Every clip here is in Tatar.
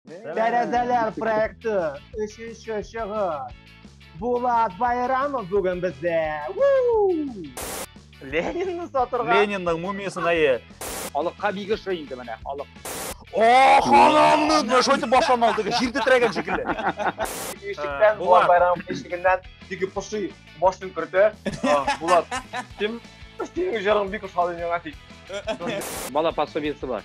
Тәрәзәләр проекты өченче чыгыш. Булат Байрамов бүген бездә. Ленинны сатырга. Ленинның мумиясен әйе. Халыкка бик ошый инде менә халык. О, ханымны! Менә шулай итеп башлан алды. Җир тетрәгән шикелле. Ишектән э, Булат Байрамов ишегеннән теге поши башын кертә. Булат, син синең җырың бик ошады миңа тик. Бала пособиесе бар.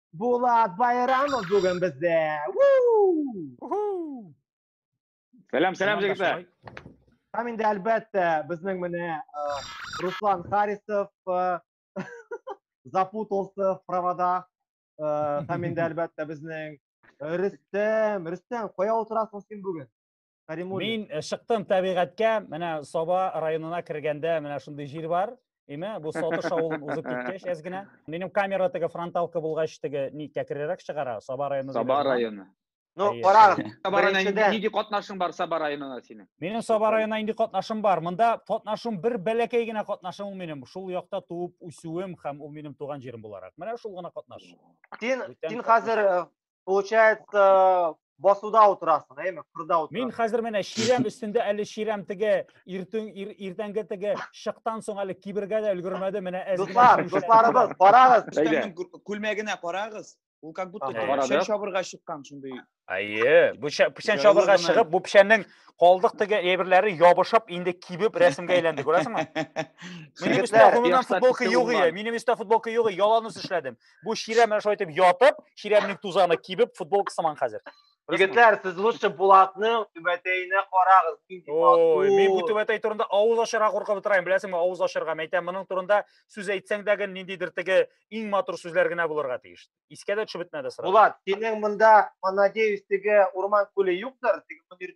Булат Байрамов бүген бездә. Сәлам, сәлам җегетләр. Һәм инде әлбәттә безнең менә э, Руслан Харисов э, запутался в проводах. Э, һәм инде әлбәттә безнең Рөстәм, Рөстәм, кая утырасың син бүген? Каримуллин. Мин э, чыктым табигатькә, менә Саба районына кергәндә менә шундый җир бар. Име, бу Сатыш авылын узып киткәч әз генә. Минем камера теге фронталка булгач теге никә керерәк чыгара, Саба районы. Саба районы. Ну, карагыз. Саба районына нинди катнашың бар Саба районына синең? Минем Саба районына нинди катнашым бар? Монда катнашым бер бәләкәй генә катнашым ул минем. Шул якта туып үсүем һәм ул минем туган җирем буларак. Менә шул гына катнаш. Син син хәзер э, получается басуда утырасың әйме кырда утырасың мин хәзер менә чирәм өстендә әле чирәм теге иртүн иртәнге теге шыктан соң әле кибергә дә өлгермәде менә әз дуслар дусларыбыз карагыз күлмәгенә карагыз ул как будто печән чабырга чыккан шундый әйе бу печән чабырга чыгып бу печәннең калдык теге әйберләре ябышып инде кибеп рәсемгә әйләнде күрәсеңме минем өстә гомумән футболка юк иде минем өстә футболка юк иде яланус эшләдем Бу чирәм менә шулай итеп ятып, чирәмнең тузаны кибеп, футболка сыман хәзер. Егетләр, сез лучше Булатның түбәтәенә карагыз. Ой, мин бу түбәтәй турында авыз ачарга куркып утырам. Беләсеңме, авыз ачарга мәйтәм, моның турында сүз әйтсәң дә гел ниндидер теге иң матур сүзләр генә булырга тиеш. Искә дә төшеп бетмәде сразу. Булат, синең монда, надеюсь, теге урман күле юктыр, теге мөнир.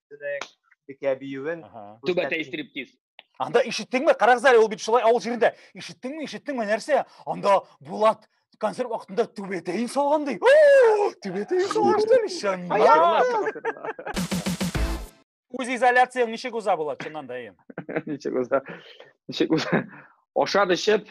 бикә биюен түбә тәй стриптиз анда ишеттеңме карагыз әле ул бит шулай авыл җирендә ишеттеңме ишеттеңме нәрсә анда булат концерт вакытында түбәтәен салган ди түбәтәен салган ишан үз изоляцияң ничек уза булат чыннан да әйе ничек уза ничек уза ашап эчеп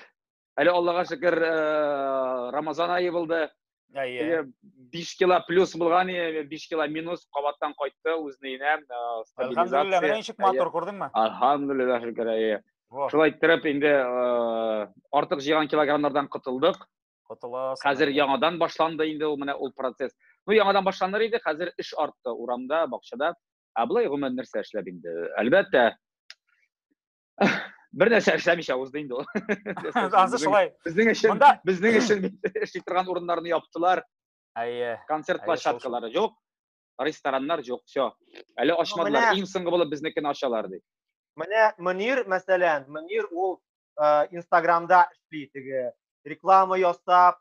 Әле Аллага шөкер, э, Рамазан ае булды. Әйе. 5 кило плюс булган, 5 кило минус кабаттан кайтты үзенә өенә. Э, Әлхәмдулилла, менә ничек матур күрдеңме? Әлхәмдулилла шөкер, әйе. Шулай иттереп инде э, артык җыйган килограммнардан котылдык. Котыласыз. Хәзер яңадан башланды инде ул менә ул процесс. Ну яңадан башланыр иде, хәзер эш артты урамда, бакчада. Ә былай гомумән нәрсә эшләп инде? Әлбәттә, бер нәрсә эшләмичә узды инде ул ансы шулай безнең өчен монда безнең өчен эшли торган урыннарны яптылар әйе концерт площадкалары юк рестораннар юк все әле ачмадылар иң соңгы булып безнекене ачалар ди менә мөнир мәсәлән мөнир ул инстаграмда эшли теге реклама ясап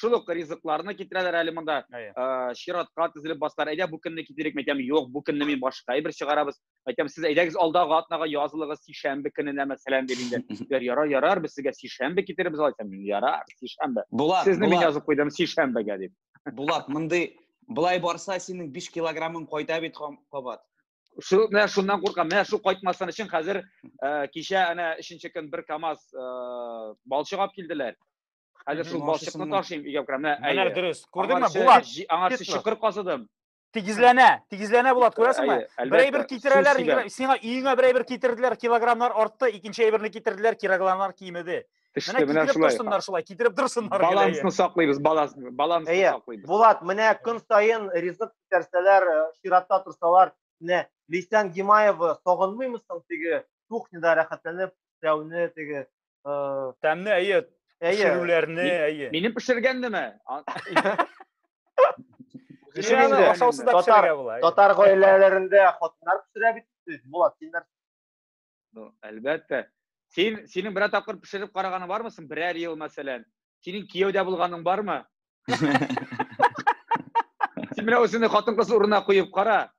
шул ук ризыкларны китерәләр әле монда ә, чиратка тезелеп басалар әйдә бу көнне китерик мәйтәм юк бу көнне мин башка әйбер чыгарабыз мәйтәм сез әйдәгез алдагы атнага язылыгыз сишәмбе көненә мәсәлән дип инде диләр ярар ярар без сезгә сишәмбе китеребез алайсам мин ярар сишәмбе булат сезне мин язып куйдым сишәмбегә дип булат мондый былай барса синең биш килограммың кайта бит кабат шул менә шуннан куркам менә шул кайтмасын өчен хәзер кичә әнә өченче көн бер камаз балчык алып килделәр Хәзер шул балчыкны ташыйм, өйгә керәм. Менә, әйе. Менә дөрес. Күрдеңме, Булат? Аңа чокыр казыдым. Тигезләнә, тигезләнә Булат, күрәсеңме? Бер әйбер китерәләр, сиңа өеңә бер әйбер китерделәр, килограммнар артты, икенче әйберне китерделәр, килограммнар кимеде. Менә китереп торсыннар шулай, китереп торсыннар. Балансны саклыйбыз, балансны, балансны саклыйбыз. Булат, менә көн саен ризык китерсәләр, э, чиратта торсалар, менә Лейсан Гимаева сагынмыймысың теге кухняда рәхәтләнеп эшләүне, теге Тәмне әйе, пешерүләрне әйе. Минем пешергәннеме? Татар гаиләләрендә хатыннар пешерә бит, Булат, син нәрсә? Ну, әлбәттә. Син синең берәр тапкыр пешереп караганы бармы соң? Берәр ел, мәсәлән. Синең кияүдә булганың бармы? Син менә үзеңне хатын-кыз урынына куеп кара.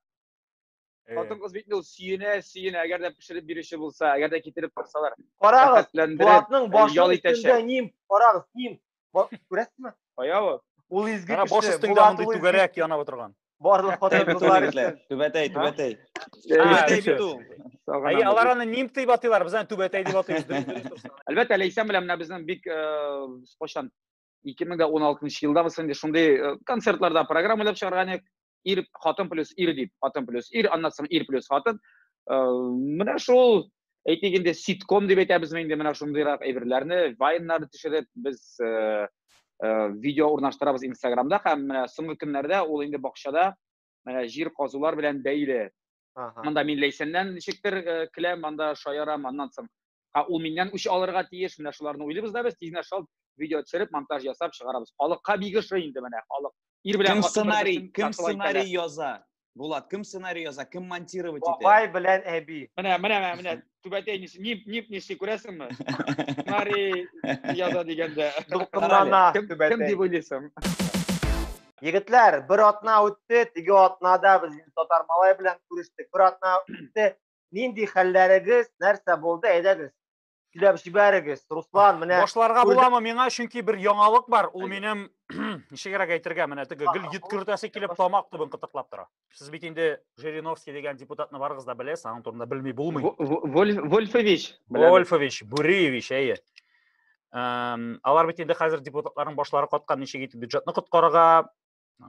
Хатын кыз бит ул сөенә, сөенә, әгәр дә пешереп бирүче булса, әгәр дә китереп торсалар. Карагыз, Булатның башы ял өстендә ним, карагыз, ним. Күрәсезме? Кая ул? Ул изге кеше. Баш өстендә мондый түгәрәк янап утырган. Барлык хатын кызлар өчен. Түбәтәй, түбәтәй. Түбәтәй бит ул. Әй, алар аны ним дип атыйлар, без аны түбәтәй дип атыйбыз. Әлбәттә, Ләйсән белән менә безнең бик кайчан ике мең дә уналтынчы елда без инде шундый э, концертларда программа уйлап чыгарган идек ир хатын плюс ир дип хатын плюс ир аннан соң ир плюс хатын э, менә шул әйтик инде ситком дип әйтәбезме инде менә шундыйрак әйберләрне вайннар төшереп без э, видео урнаштырабыз инстаграмда һәм менә соңгы көннәрдә ул инде бакчада менә җир казулар белән бәйле анда мин ләйсәннән ничектер э, келәм анда шаярам аннан соң ул миннән үч алырга тиеш менә шуларны уйлыйбыз да без тизнә шалт видео төшереп монтаж ясап чыгарабыз халыкка бик ошый инде менә халык ир белән кем сценарий кем сценарий яза булат кем сценарий яза кем монтировать итә бабай белән әби менә менә менә түбәтәй нип нип ниси күрәсеңме мари яза дигәндә дулкынлана түбәтәй кем дип уйлыйсың егетләр бер атна үтте теге атнада без татар малай белән күрештек бер атна үтте нинди хәлләрегез нәрсә булды әйдәгез сөйләп җибәрегез руслан менә башларга буламы миңа чөнки бер яңалык бар ул минем ничегрәк әйтергә менә теге гел йөткертәсе килеп тамак төбен кытыклап тора сез бит инде жириновский деген депутатны барыгыз да беләсез аның турында белми булмый вольфович вольфович буриевич әйе алар бит инде хәзер депутатларның башлары каткан ничек итеп бюджетны коткарырга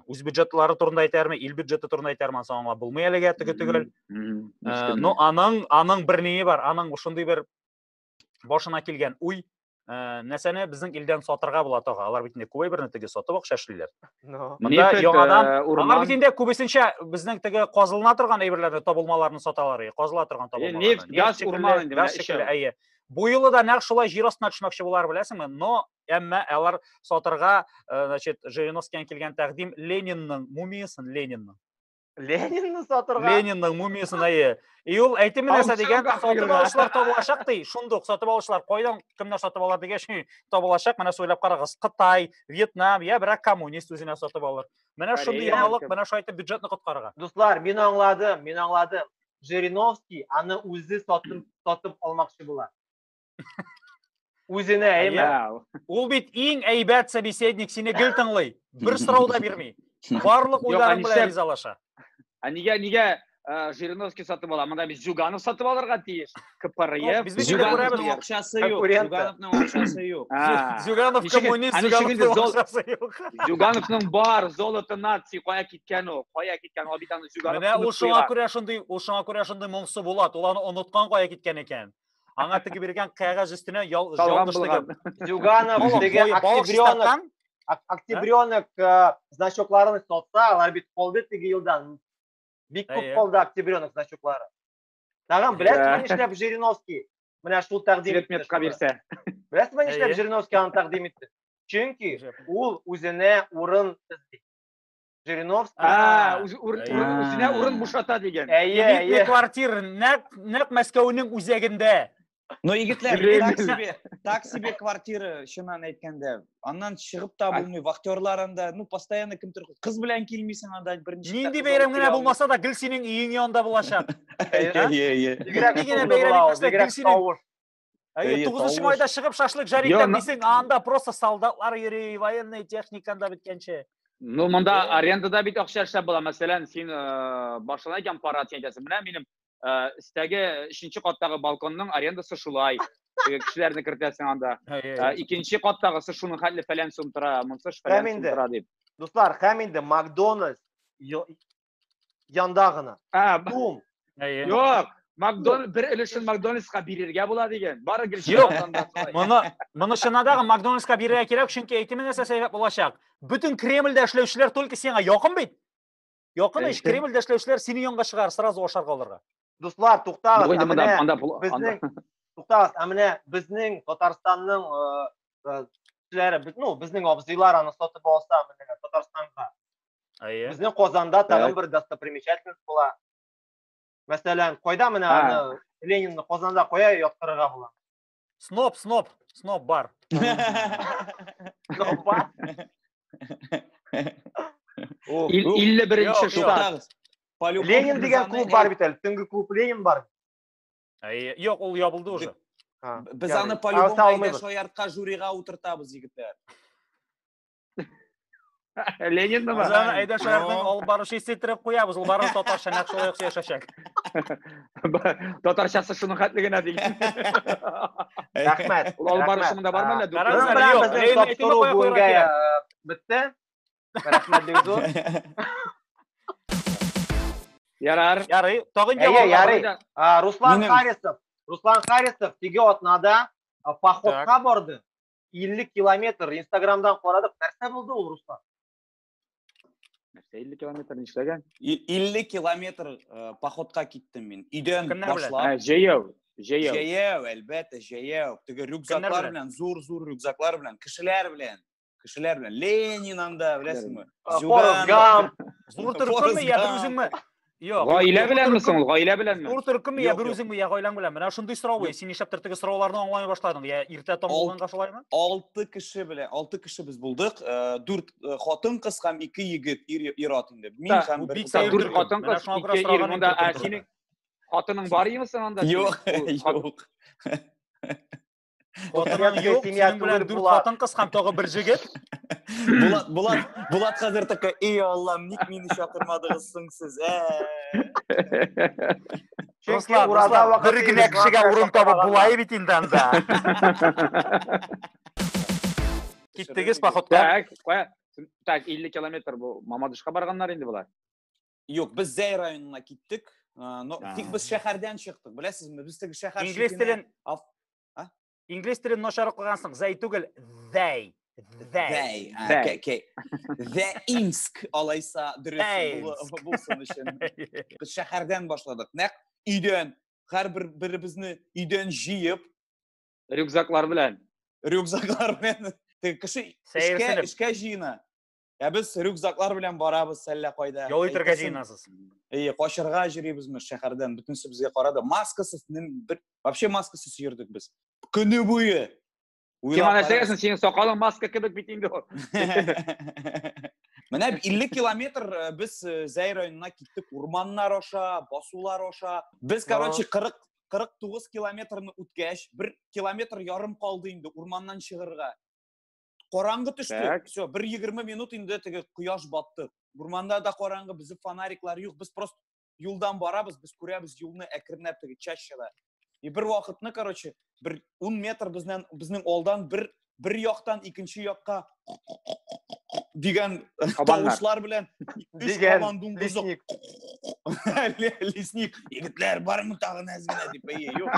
үз бюджетлары турында әйтәрме ил бюджеты турында әйтәрме ансы аңлап булмый әлегә теге төгәл но аның аның бер ние бар аның шундый бер башына килгән уй Э, нәрсәне безнең илдән сатырга була тагы алар бит инде күбәйберне теге сатып акча эшлиләр монда яңадан э, алар бит инде күбесенчә безнең теге казылына торган әйберләрне табылмаларны саталар казыла торган табылмалар нефть газ урман инде газ шикелле әйе бу юлы да нәкъ шулай җир астына төшмәкче болар беләсеңме но әмма алар сатырга э, значит жириновскийдан килгән тәкъдим ленинның мумиясын ленинның Ленинны сатырга. Ленинның мумиясен әйе. И ул әйтеме нәрсә дигән, сатып алучылар табылачак ди. Шундук сатып алучылар кайдан кемнәр сатып алар дигән шуй табылачак. Менә сөйләп карагыз. Кытай, Вьетнам, я берәк коммунист үзенә сатып алыр. Менә шундый яңалык, менә шулай итеп бюджетны коткарырга. Дуслар, мин аңладым, мин аңладым. Жириновский аны үзе сатып сатып алмакчы була. Үзенә әйме? Ул бит иң әйбәт собеседник, сине гел тыңлый. Бер сорау да бирми. Барлык уйларың белән ризалаша. Ә нигә нигә э, Жириновский сатып ала? Монда без Зюганов сатып алырга тиеш. КПРФ. Без Зюгановның акчасы юк. Зюгановның акчасы юк. Зюганов коммунист, Зюгановның акчасы юк. Зюгановның бар золото нации кая киткән ул? Кая киткән? Ул бит аны Зюганов. Менә ул шуңа күрә шундый, ул шуңа күрә шундый моңсу була. Ул аны оныткан кая киткән икән. Аңа теге биргән кәгазь өстенә ял, Салган булган. Зюганов теге октябренок, октябренок э, значокларын сатса, алар бит калды теге елдан. Бик күп калды октябренок значоклары. Тагын беләсезме нишләп Жириновский менә шул тәкъдим итте. Светметка бирсә. Беләсезме нишләп Жириновский аны тәкъдим итте? Чөнки ул үзенә урын эзли. Жириновский. А, үз- үр- Әйе. үр- үзенә урын бушата дигән. Әйе, Элитный әйе. квартир нәк нәк Мәскәүнең үзәгендә. Но егетләр, Гребель. так себе, так себе квартира, чыннан әйткәндә. Аннан чыгып та Ай. булмый, вахтерлар анда, ну, постоянно кемдер кыз белән килмисең анда берничә. Нинди кыз бәйрәм алып генә килә булмаса да гел синең өең янында булачак. Әйе, әйе, әйе. Бигрәк Нинди генә шаулы бәйрәм була ул, итмәсә, бигрәк килсен. тавыш. Әйе, Әйе, тугызынчы тавыш. майда чыгып шашлык жарик Йо, на- дисең, анда просто солдатлар йөри, военный техниканда беткәнче. Ну, монда Э. арендада бит акча эшләп була. Мәсәлән, син э, башына икән пара дигән әйтәсең. Менә минем э, өстәге өченче каттагы балконның арендасы шулай. Теге Кешеләрне кертәсең анда. Э, Икенче каттагысы шуның хәтле фәлән сум тора, монсы Һәм шфәлән сум инде. тора дип. Дуслар, һәм инде Макдональдс ё- Янда гына. А, б- Бум. Әйе. Юк, Макдон бер өлешен Макдональдска бирергә була дигән. Бары гел Юк. шуннан да шулай. Моны моны чынадагы Макдональдска бирергә кирәк, чөнки әйтеме нәрсә сәбәп булачак. Бөтен Кремльдә эшләүчеләр только сиңа якын бит. Якын ич, Әйе. Кремльдә эшләүчеләр сине янга чыгар, сразу ашарга алырга. Дуслар, Бу туктагыз. инде Ә монда менә анда пол- анда- безнең туктагыз, ә менә безнең Татарстанның э, э, кешеләре, без- ну, безнең абзыйлар аны сатып алса, менә Татарстанга Әйе. Безнең Казанда тагын бер достопримечательность була. Мәсәлән, кайда менә аны Ленинны Казанда кая яткырырга була? Сноп, сноп, сноп бар. Сноп бар. 51-нче штат. Ленин дигән клуб бар бит әле. Төнге клуб Ленин бар. Әйе. Юк, ул ябылды уже. Без аны по-любому әйдә шаяртка жюрига утыртабыз, егетләр. Ленин нема? Узаны әйдә шәһәрнең алып баручы исетереп куябыз. Ул барын татарча нәкъ шулай яхшы яшәшәк. Татарчасы шуның хәтле генә ди. Рәхмәт. Ул алып баручы монда бармы әллә? Безнең тапшыру бүгенгә бетте. Рәхмәт бик зур. Ярар. Ярый. Тагын җавап. Ярый. Руслан Харисов. Руслан Харисов теге атнада походка барды. 50 километр инстаграмдан карадык нәрсә булды ул руслан нәрсә 50 километр нишләгән 50 километр э, походка киттем мин өйдән башлап җәяү җәяү җәяү әлбәттә җәяү теге рюкзаклар белән зур зур рюкзаклар белән кешеләр белән кешеләр белән ленин анда беләсеңме форест гамп зур төркемме я дружинмы Юк. Гаилә белән мисең ул? Гаилә белән мисең? Ул төркем я бер үзең я гаиләң белән. Менә шундый сорау ул. Син нишләп төртеге сорауларны аңламый башладың? Я иртә таң булганга шулаймы? 6 кеше белән, 6 кеше без булдык. 4 э, хатын кыз һәм 2 егет, ир ат инде. Мин һәм бер дүрт хатын кыз, ике ир монда. Ә синең хатының бар имесең анда? Юк, юк. Хатының юк, синең белән дүрт хатын кыз һәм тагы бер җегет. Булат, Булат, Булат хәзер такой, "И Аллам, ник мине чакырмадыгыз соң сез?" Чөнки ураза вакыты бер генә кешегә урын табып булай бит инде анда. Киттегез походка. Так, так 50 километр бу Мамадышка барганнар инде булар. Юк, без Зәй районына киттек. Но тик без шәһәрдән чыктык. Беләсезме, без теге шәһәр Инглиз телен Инглиз телен начар укыгансың. Зәй түгел, Зәй. Зәй. Зәй. Зәйинск алайса дөрес булсын өчен. Без шәһәрдән башладык. Нәк өйдән һәрбер беребезне өйдән җыеп рюкзаклар белән рюкзаклар белән кеше эшкә эшкә җыена Ә без рюкзаклар белән барабыз әллә кайда. Ял итәргә җыенасыз. Әйе, качырга җөрибезме шәһәрдән, бөтенесе безгә карады. Маскасыз, бер вообще маскасыз йөрдек без. Көне буе. Кем ана сәгәсен синең сакалың маска кебек бит инде ул. Менә 50 километр э, без э, Зәй районына киттек, урманнар аша, басулар аша. Без, короче, 40 49 километрны үткәч, бер километр ярым калды инде урманнан чыгырга. Караңгы төште. Все, бер 20 минут инде теге кояш батты. Урманда да караңгы, безнең фонариклар юк. Без просто юлдан барабыз, без күрәбез юлны әкренләп теге чащада. И бер вакытны, короче, бер 10 метр безнен безнең алдан бер бер яктан икенче якка дигән тавышлар белән өч кабан дуңгызы лесник егетләр бармы тагын әз генә дип әйе юк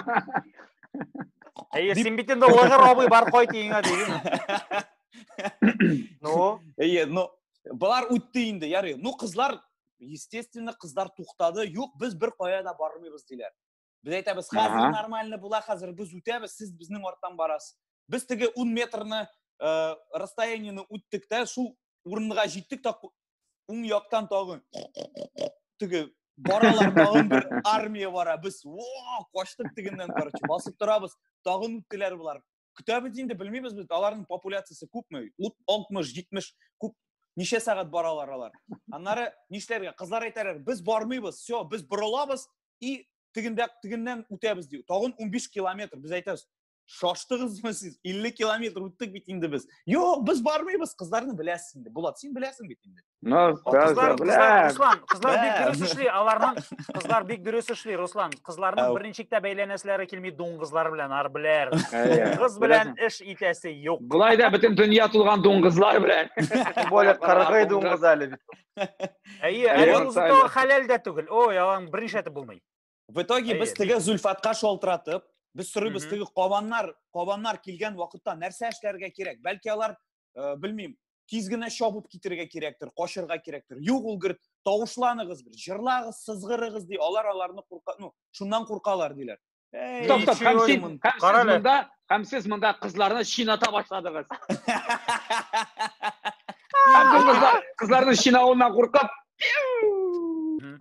Әйе, син бит инде лыгыр абый бар кайт өеңә дигән. Ну, Әйе, ну болар үтте инде, ярый. Ну кызлар, естественно, кызлар туктады. Юк, без бер кая да бармыйбыз диләр. Без әйтәбез, хәзер Ага. нормально була, хәзер без үтәбез, сез безнең арттан барасыз. Без теге 10 метрны э, расстояниены үттек тә, шул урынга җиттек тә ку- уң яктан тагын теге баралар тагын бер армия бара без качтык тегеннән короче басып торабыз тагын үттеләр болар көтәбез инде белмибез без аларның популяциясе күпме ут алтмыш җитмеш күп ничә сәгать баралар алар аннары нишләргә кызлар әйтәләр без бармыйбыз все без борылабыз и тегендә тегеннән үтәбез ди тагын унбиш километр без әйтәбез шаштыгызмы сез илле километр үттек бит инде без юк без бармыйбыз кызларны беләсез инде булат син беләсең бит инде кызлар руслан кызлар бик дөрес эшли аларның кызлар бик дөрес эшли руслан кызларның берничек тә бәйләнәселәре килми дуңгызлар белән арбеләр дуңгыз белән эш итәсе юк болай да бөтен дөнья тулган дуңгызлар белән тем более кыргый дуңгыз әле бит әйе әле узы хәләл дә түгел ой аның берничә булмый в итоге без теге зөлфатка шалтыратып без сорыйбыз теге кабаннар кабаннар килгән вакытта нәрсә эшләргә кирәк бәлки алар э, белмим тиз генә чабып китергә кирәктер качырга кирәктер юк ул гөр тавышланыгыз бер җырлагыз сызгырыгыз ди алар аларны курка ну шуннан куркалар диләр Стоп, стоп, һәм син, һәм сез монда, Һәм сез монда кызларны чината башладыгыз. Һәм без кызлар, кызларның чинавыннан куркып,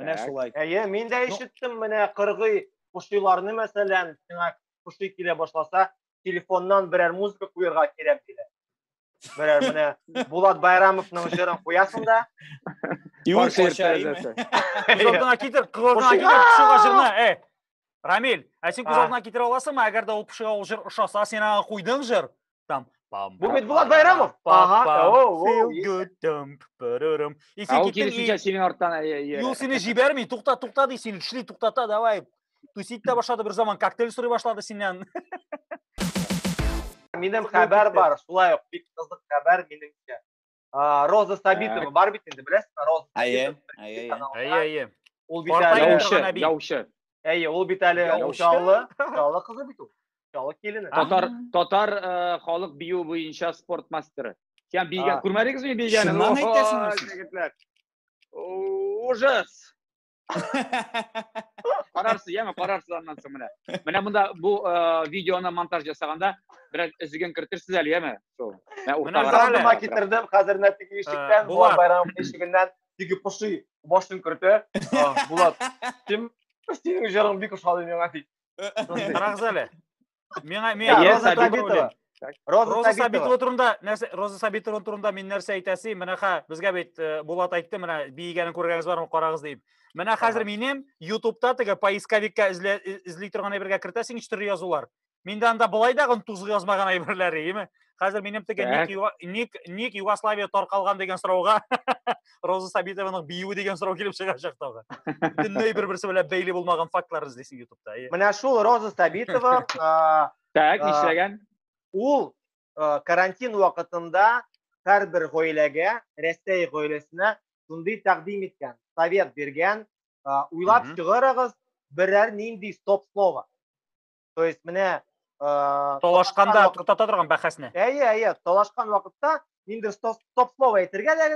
Менә Так. шулай. Әйе, мин дә ишеттем менә кыргый кушиларны мәсәлән, сиңа куши килә башласа, телефоннан берәр музыка куярга кирәк диләр. Берәр менә Булат Байрамовның җырын куясың да. Юр терезәсе. Күз алдына китер, күз алдына китер, пошуга җырны. Э. Рамил, ә син күз алдына китерә аласыңмы, әгәр дә ул пошуга ул җыр ошаса, син аңа куйдың җыр? Там Бу бит Булат Байрамов. Ага. Feel good dump. Исең киттең. Ул килешүчә синең арттан. Юл сине җибәрми. Тукта, тукта ди син. Шли туктата, давай. Тусить та башлады бер заман, коктейль сорый башлады синнән. Минем хәбәр бар, шулай ук бик кызык хәбәр минемчә. Роза Сабитова бар бит инде, беләсезме, Роза? Әйе, әйе, әйе. Әйе, Ул бит әле яучы, яучы. Әйе, ул бит әле Чаллы, Чаллы кызы бит ул. Чаллы килене. Татар, татар э, халык бию буенча спорт мастеры. Сен бийгән, күрмәдегезме бийгәнен? Шуннан әйтәсеңме? Ужас. карарсыз яме карарсыз аннан соң менә менә монда бу видеоны монтаж жасаганда бераз өзеген кертерсез әле яме шул алдыма китердем хәзер менә теге ишектән булат байрам ишегеннән теге поши башын кертә булат син синең җырың бик ошады миңа ди карагыз әле Мен мен Әйе, Роза Сабитова Сабитова. белән. Роза Роза Сабитова Сабитова. турында нәрсә Роза Сабитова турында мин нәрсә әйтәсе? Менә ха безгә бит э, Булат әйтте, менә биегәнен күргәнегез бармы, карагыз дип. Менә хәзер Ага. минем YouTube'та теге поисковикка эзлә э- эзли торган әйбергә кертәсең ничә төрле язулар. Миндә анда былай да гын тузгы язмаган әйберләр, име? Хәзер минем теге ник, юга, ник, ник Югославия таркалган дигән сорауга Роза Сабитованың биюе дигән сорау килеп чыгачак тагы. Бөтенләй бер-берсе белән бәйле булмаган фактлар эзлисең ютубта. Менә шул Роза Сабитова Так, нишләгән? Ул карантин вакытында һәрбер гаиләгә, Рәсәй гаиләсенә шундый тәкъдим иткән, совет биргән, уйлап чыгарыгыз берәр нинди стоп слово. То есть менә э, талашканда туктата торган бәхәсне. Әйе, әйе, талашкан вакытта ниндер стоп слово әйтергә дә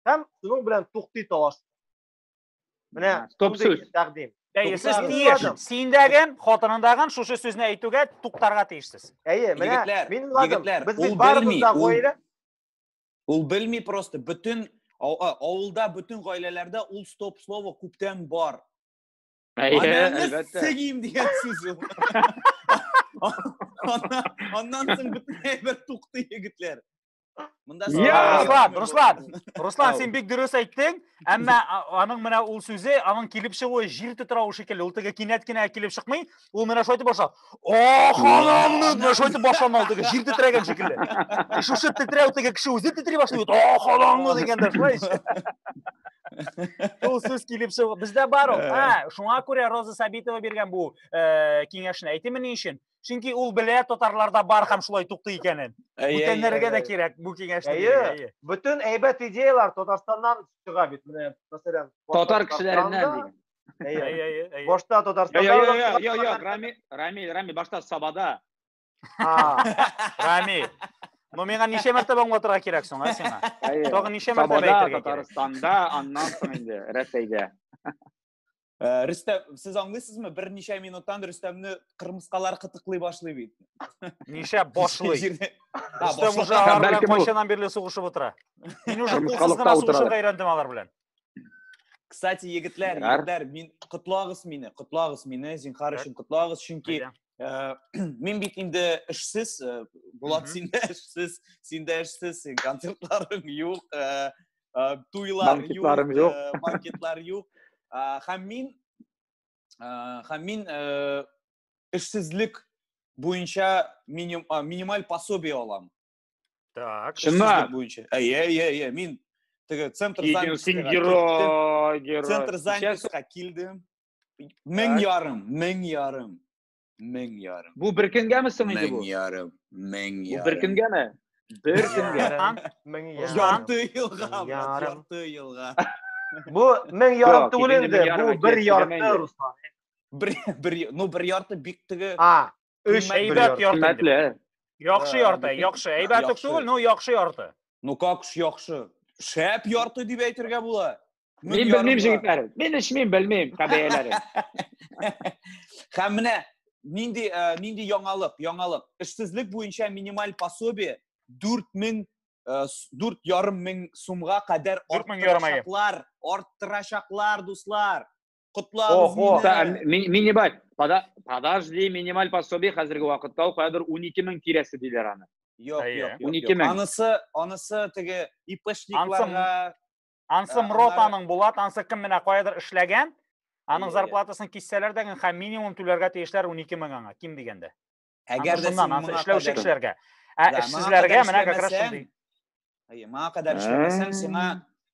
һәм шуның белән туктый талаш. Менә стоп сүз тәкъдим. Әйе, сез тиеш. Синдәген, хатынындагын шушы сүзне әйтүгә туктарга тиешсез. Әйе, менә мин уйладым. Без бит барыбыз да гаилә. Ул белми просто бөтен авылда бөтен гаиләләрдә ул стоп слово күптән бар. Әйе, Анамны әлбәттә. сөгим дигән сүз ул. Аннан- Аннан соң бөтен әйбер туктый егетләр. Монда Я, сорау Руслан, бирмәү Руслан, булды. Руслан, Ау. син бик дөрес әйттең, әмма а- аның менә ул сүзе, аның килеп чыгуы җил тетрәве шикелле, ул теге кинәт кенә килеп чыкмый, ул менә шулай итеп башлап. О, ханым, менә шайтып башлама ул теге җир тетрәгән шикелле. Шушы тетрәү теге кеше үзе тетри башлый бит. О, ханым, дигәндә шулай. Ул сүз килеп чыгып, бездә бар ул. Ә, шуңа күрә Роза Сабитова биргән бу киңәшне. Әйтеме ни өчен? Чөнки ул белә татарларда бар һәм шулай тукты икәнен. Бүтәннәргә дә кирәк бу киңәшне. Әйе. Бүтән әйбәт идеялар Татарстаннан чыга бит. Менә, мәсәлән, татар кешеләреннән дигән. Әйе, әйе, әйе, әйе. Башта Татарстанда. Йо, йо, йо, йо, йо, Рами, Рами, Рами, башта Сабада. А, Рами. Ну, миңа ничә мәртәбә аңлатырга кирәк соң, а сиңа? Әйе. Тагын ничә мәртәбә Сабада, әйтергә кирәк? Татарстанда, аннан соң инде Рәсәйдә. Ә, Рөстәм, сез аңлыйсызмы? Берничә минуттан Рөстәмне кырмыскалар кытыклый башлый бит. Ничә башлый? Җирдә- А, Рөстәм башлый. уже алар белән Бәлкем ул- кайчаннан бирле сугышып утыра. Мин уже Кырмыскалыкта кулсыздан утыралар. сугышырга өйрәндем алар белән. Кстати, егетләр, егетләр, мин котлагыз мине, котлагыз мине, зинхар өчен котлагыз, чөнки э, мин бит инде эшсез, э, Булат син дә эшсез, син дә эшсез, концертларың юк, э, туйлар юк, банкетлар юк. Һәм мин һәм мин эшсезлек буенча минималь пособие алам. Так. Чыннан. Буенча. Әйе, әйе, әйе. Мин теге центр занятостька герой, герой. Центр занятостька килдем. Мең ярым, мең ярым. Мең ярым. Бу бер көнгәме соң инде бу? Мең ярым, мең ярым. Бу бер көнгәме? Бер көнгә. Мең ярым. Ярты елга, ярты елга. Бу мең ярым түгел инде, бу бер ярты, Руслан. Бер, бер, ну бер ярты бик теге. А, Өч, бер Әйбәт ярты. ярты. дип. Хөрмәтле. Яхшы ярты, яхшы. Әйбәт үк Яхшы. түгел, но яхшы ярты. Ну как ж яхшы. Шәп ярты дип әйтергә була. Мең Мин белмим, ярымга. җегетләр. Мин эчмим, белмим, кабәяләре. Һәм менә нинди э, нинди яңалык, яңалык. Эшсезлек буенча минималь пособие 4000 э, с- дүрт ярым мең сумга кадәр Дүрт мең ярым, әйе. арттырачаклар, арттырачаклар, дуслар. Котлабыз Охо, мине. ми- минималь. Пода- Подожди, минималь пособие хәзерге вакытта ул кадәр 12 мең тирәсе диләр аны. Юк, Әйе. юк, юк. 12 юк. мең. Анысы, анысы теге ИПшникларга Ансы Ә, Мрот аннары- аның була, ансы кем менә каядыр эшләгән, Әйе, аның әйе. зарплатасын киссәләр дә, һәм минимум түләргә тиешләр 12 мең аңа, ким дигәндә. Әгәр дә син моңа эшләүче кешеләргә. Ә эшсезләргә менә как раз шундый. Әйе, моңа кадәр эшләмәсәң, сиңа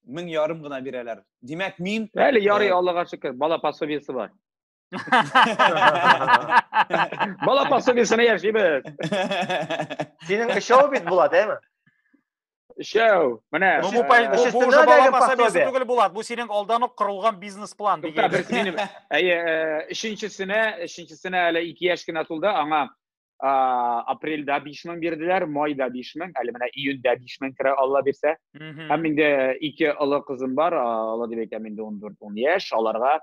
мең ярым гына бирәләр. Димәк, мин Әле ярый э, Аллага шөкер, бала пособиесе бар. Бала пособиесенә яшибез. Синең өчәү бит була, дәме? Шәү, менә. Ну, бу, бу, бу, бу уже бала пособиесе түгел, Булат. Бу синең алдан ук корылган бизнес-план. Тукта, бер минем. Әйе, өченчесенә, өченчесенә әле 2 яшь кенә тулды, аңа апрельдә 5 мең бирделәр, майда 5 мең, әле менә июньдә 5 мең керә, Алла бирсә. Һәм инде ике олы кызым бар, Алла дип әйтәм, инде 14-10 яшь, аларга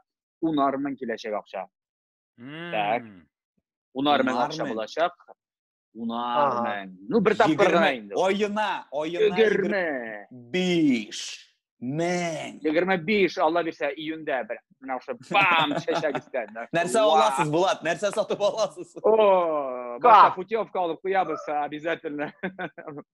10 мең киләчәк акча. Так. 10 мең акча булачак. унармын ну бер тапкыр гына инде аена аена егерме биш мең егерме биш алла бирсә июньдә бер менә ошо бам чәчәк өстән нәрсә аласыз булат нәрсә сатып аласыз о башка путевка алып куябыз обязательно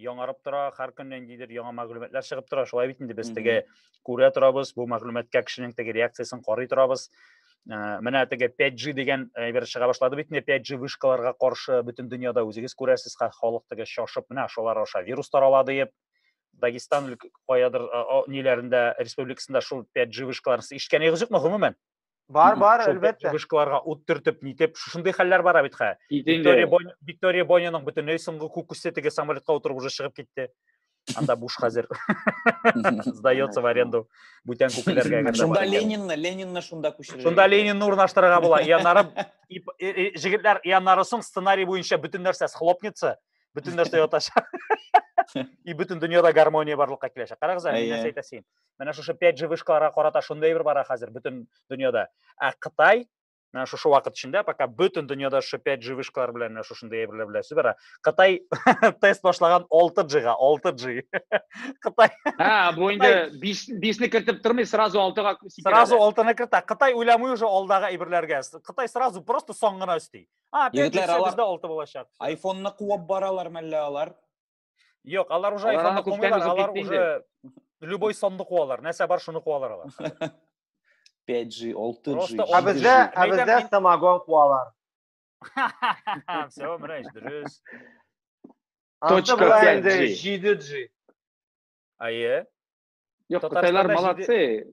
яңарып тора, һәр көнне ниндидер яңа мәгълүматлар чыгып тора. Шулай бит инде без теге күрә торабыз, бу мәгълүматка кешенең теге реакциясен карый торабыз. Ә, менә теге 5G дигән әйбер чыга башлады бит инде 5G вышкаларга каршы бөтен дөньяда үзегез күрәсез, халык теге шашып, менә шулар аша вирус тарала диеп. Дагестан каядыр ниләрендә республикасында шул 5G вышкаларын ишеткәнегез юкмы гомумән? Бар, бар, әлбәттә. Чыгышкаларга ут төртеп, нитеп, шушындый хәлләр бара бит хә. Виктория Бон, Виктория Боняның бөтенләй соңгы күк үсте теге самолетка утырып уже чыгып китте. Анда буш хәзер. Сдается в аренду. Бүтән күкләргә генә. Шунда Ленинны, Ленинны шунда күчерә. Шунда Ленинны урнаштырырга була. Яннары җегетләр яннары соң сценарий буенча бөтен нәрсә схлопнется, бөтен нәрсә ятачак. И бөтен дөньяда гармония барлыкка киләчәк. Карагыз әле, нәрсә әйтәсен. менә шушы 5G вышкаларга карата шундый әйбер бара хәзер бөтен дөньяда. Ә Кытай менә шушы вакыт эчендә пока бөтен дөньяда шушы 5G вышкалар белән менә шушындый әйберләр белән сүз бара. Кытай тест башлаган 6G-га, 6G. Кытай. Ха, бу инде 5 5-не кертеп тормый, сразу 6-га күсеп. Сразу 6-ны кертә. Кытай уйламый уже алдагы әйберләргә. Кытай сразу просто соң гына өсти. А, 5G-дә 6 булачак. iPhone-ны куып баралар мәллә алар. Юк, алар уже айфонны кумыйлар, алар уже любой сонны куалар, нәрсә бар шуны куалар алар. 5G, 6G. Ә бездә, ә бездә самогон куалар. Все, мрәҗ, дөрес. Точка 5G. 7G. Ае. Юк, татарлар молодцы.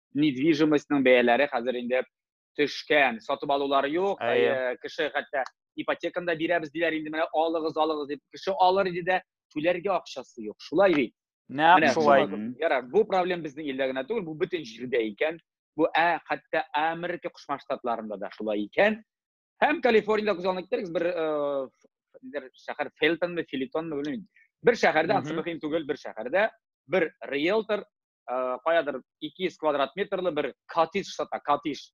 недвижимостьның бәяләре хәзер инде төшкән, сатып алулар юк, э, кеше хәтта ипотеканы да бирәбез диләр инде, менә алыгыз, алыгыз дип, кеше алыр иде дә, түләргә акчасы юк, шулай бит. Нәкъ шулай. Ярар, бу проблем безнең илдә генә түгел, бу бөтен җирдә икән. Бу ә хәтта Америка Кушма Штатларында да шулай икән. Һәм Калифорниядә күз алдына китерегез, бер э, шәһәр Фелтонмы, Филитонмы, белмим. Бер шәһәрдә, ансымыхин түгел, бер шәһәрдә бер риэлтор каядыр 200 квадрат метрлы бер коттедж сата, коттедж.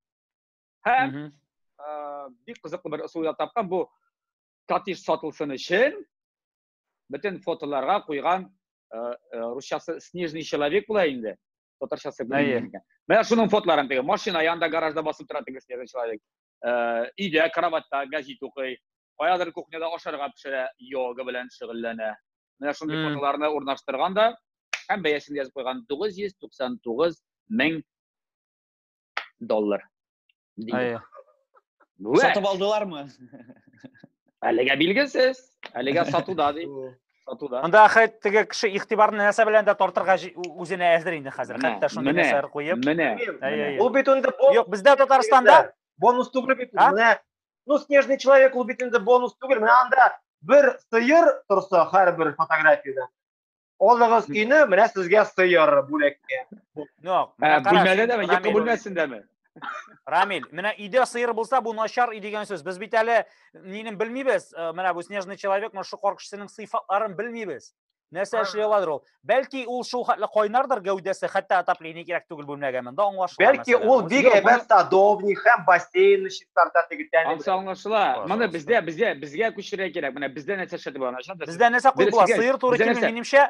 Һәм бик кызыклы бер ысул да тапкан бу коттедж сатылсын өчен бөтен фотоларга куйган русчасы снежный человек була инде. Татарчасы белмим. Менә шуның фотоларын теге машина янында гаражда басып тора теге снежный человек. өйдә кроватьта гәзит укый, каядыр кухняда ашарга пешерә, йога белән шөгыльләнә. Менә шундый mm. фотоларны урнаштырган да һәм бәясен язып куйган 999 мең доллар. Сатып алдылармы? Әлегә билгесез. Әлегә сатуда ди. сатуда анда ахәт теге кеше игътибарны нәрсә белән дә тартырга үзенә әзер инде хәзер хәтта шундый нәрсәләр куеп менә ул бит инде юк бездә татарстанда бонус түгел бит менә ну снежный человек ул бит инде бонус түгел менә анда бер сыер торса һәрбер фотографияда алыгыз өйне менә сезгә сыер бүләккә юк бүлмәдә дәме екі бүлмәсендәме Рамиль, менә өйдә сыер булса, бу начар өй дигән сүз. Без бит әле нинен белмибез. Э, менә бу снежный человек, менә шу коркышчының сыйфатларын белмибез. Нәрсә эшли аладыр ул? Бәлки ул шул хәтле кайнардыр гәүдәсе, хәтта отопление кирәк түгел бүлмәгә монда аңлашыла. Бәлки ул бик әйбәт садовни һәм бассейн чистарта тегетән. Ансы аңлашыла. Моны бездә безгә безгә күчерә кирәк. Менә бездә нәрсә шәт була. Бездә нәрсә кул була? Сыер туры килми минемчә.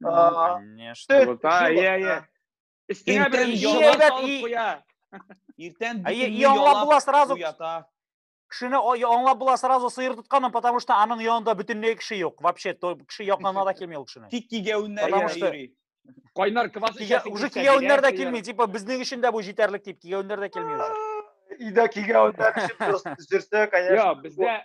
Ну, А, конечно. Төт, Вот, а, җылы. иә, иә. Өстеңә Иртән берәр җылы яла дәп салып и- куя. Иртән Ә, битеңне и аңлап ялап була сразу. уята. Кешене о- я- аңлап була сразу сыер тотканын, потому что аның янында бөтенләй кеше юк. Вообще, то кеше якынына да килми ул кешенең. Тик кигәвеннәр Потому генә что- йөри. Кайнар квас Кигә- эчәсең Уже килсә, кигәвеннәр дә бирәр, бирәр. килми, типа безнең өчен дә бу җитәрлек дип кигәвеннәр дә килми уже. Өйдә кигәвеннәр эчеп йөрсә, конечно. Йо, бездә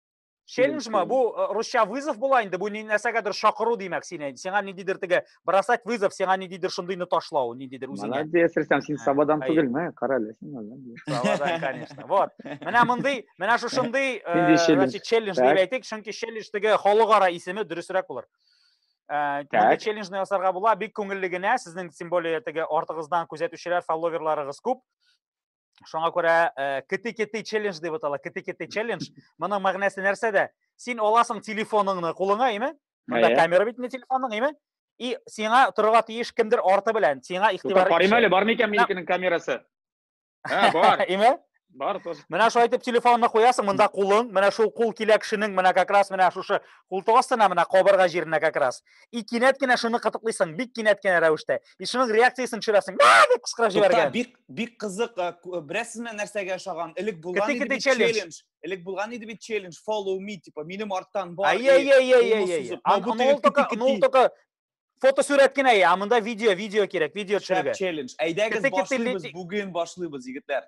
Челлендж ма? Бу э, русча вызов була инде. Бу ни нәрсәгәдер шакыру димәк сине. Сиңа ниндидер теге бросать вызов, сиңа ниндидер шундыйны ташлау, ниндидер үзеңә. Молодец, Рустам, син сабадан түгелме? Кара әле син молодец. Сабадан, конечно. Вот. Менә мондый, менә шушындый, э, значит, челлендж дип әйтик, чөнки челлендж теге халыкара исеме дөресрәк булыр. Э, Монда челленджны ясарга була, бик күңелле генә, сезнең тем более теге артыгыздан күзәтүчеләр, фолловерларыгыз күп. шуңа күрә кити-кити э, челлендж дип атала кити-кити челлендж моның мәгънәсе нәрсәдә син аласың телефоныңны кулыңа име монда ә, камера бит телефонның име и сиңа торырга тиеш кемдер арты белән сиңа игътибар карыйм әле бармы икән минекенең камерасы ә бар име бар тоже менә шулай итеп телефонны куясың монда кулың менә шул кул килә кешенең менә как раз менә шушы култык астына менә кабырга җиренә как раз и кинәт кенә шуны кытыклыйсың бик кинәт кенә рәвештә и шуның реакциясен төшерәсең дип кычкырып җибәргән бик бик кызык беләсезме нәрсәгә ошаган элек булган иде бит челлендж элек булган иде бит челлендж follow me типа минем арттан бар ул только фотосурәт кенә ә монда видео видео кирәк видео төшерергә челлендж әйдәгез башлыйбыз бүген башлыйбыз егетләр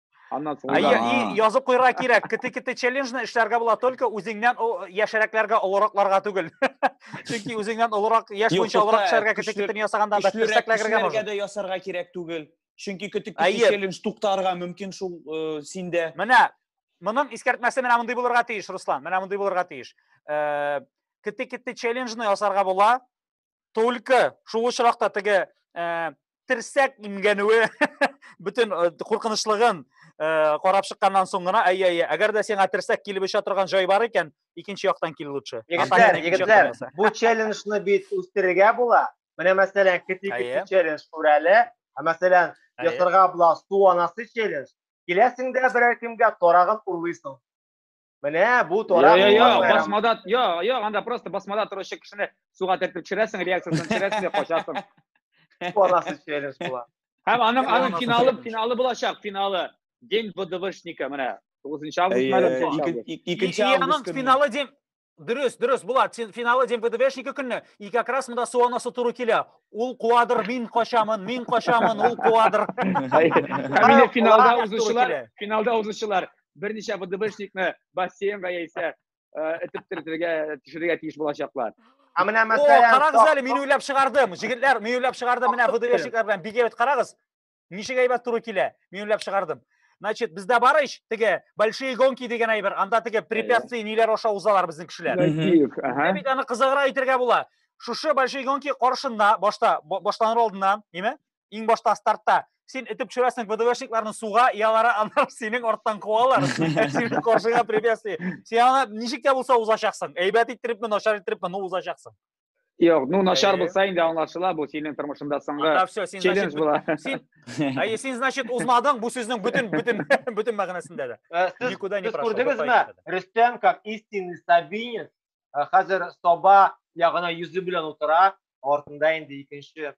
Аннан соң Ай, язып куйырга кирәк. Кете-кете челленджны эшләргә була только үзеңнән яшәрәкләргә, олыракларга түгел. Чөнки үзеңнән олырак, яшь буенча олырак эшләргә кете-кетен ясаганда да терсәкләргә можно. дә ясарга кирәк түгел. Чөнки кете-кете челлендж туктарга мөмкин шул э, синдә. Менә моның искәртмәсе менә мондый булырга тиеш, Руслан. Менә мондый булырга тиеш. Э, кете-кете челленджны ясарга була, только шул очракта теге э, терсәк имгәнүе бөтен э, куркынычлыгын э, карап чыкканнан соң гына әйе әйе әгәр дә сиңа терсәк килеп оча торган җай бар икән икенче яктан кил лучше егетләр егетләр бу челленджны бит үстерергә була менә мәсәлән кети кети челлендж күрәле ә мәсәлән ясарга була су анасы челлендж киләсең дә берәр кемгә тарагын урлыйсың Менә бу тора. Йо, йо, басмада, йо, йо, анда просто басмада торучы кешене суга төртеп төшерәсең, реакциясен төшерәсең, качасың. Барасы челлендж була. Һәм аның аның финалы, финалы булачак, финалы. День ВДВшника, менә. 9 август мәлім. Икенче август көне. Финалы день Дөрес, дөрес, Булат, финалы день ВДВшника көне, и как раз мында су анасы туры килә. Ул куадыр, мин качамын, мин качамын, ул куадыр. Финалда узучылар, финалда узучылар. берничә ВДВшникны бассейнга яисә этеп төртергә төшерергә тиеш булачаклар. Ә менә мәсәлән, карагыз әле, мин уйлап чыгардым. Җегетләр, мин уйлап чыгардым, менә ВДВшниклар белән бик әйбәт карагыз. Ничек әйбәт туры килә? Мин уйлап чыгардым. Значит, бездә бар ич, теге большие гонки дигән әйбер, анда теге препятствия ниләр аша узалар безнең кешеләр. Ә бит аны кызыгыра әйтергә була. Шушы большие гонки каршында, башта, башланыр алдыннан, име? иң башта стартта син этеп төшерәсең вдвшникларны суга и алар аннан синең арттан куалар синең каршыңа препятствие син аны ничек тә булса узачаксың әйбәт иттерепме начар иттерепме но узачаксың Юк, ну начар булса инде аңлашыла, бу синең тормышыңда соңгы челлендж була. Син, әйе, син значит узмадың, бу сүзнең бүтән бүтән бүтән мәгънәсендә дә. Никуда не прошел. Күрдегезме? Рөстәм как истинный сабинец, хәзер соба ягына йөзе белән утыра, артында инде икенче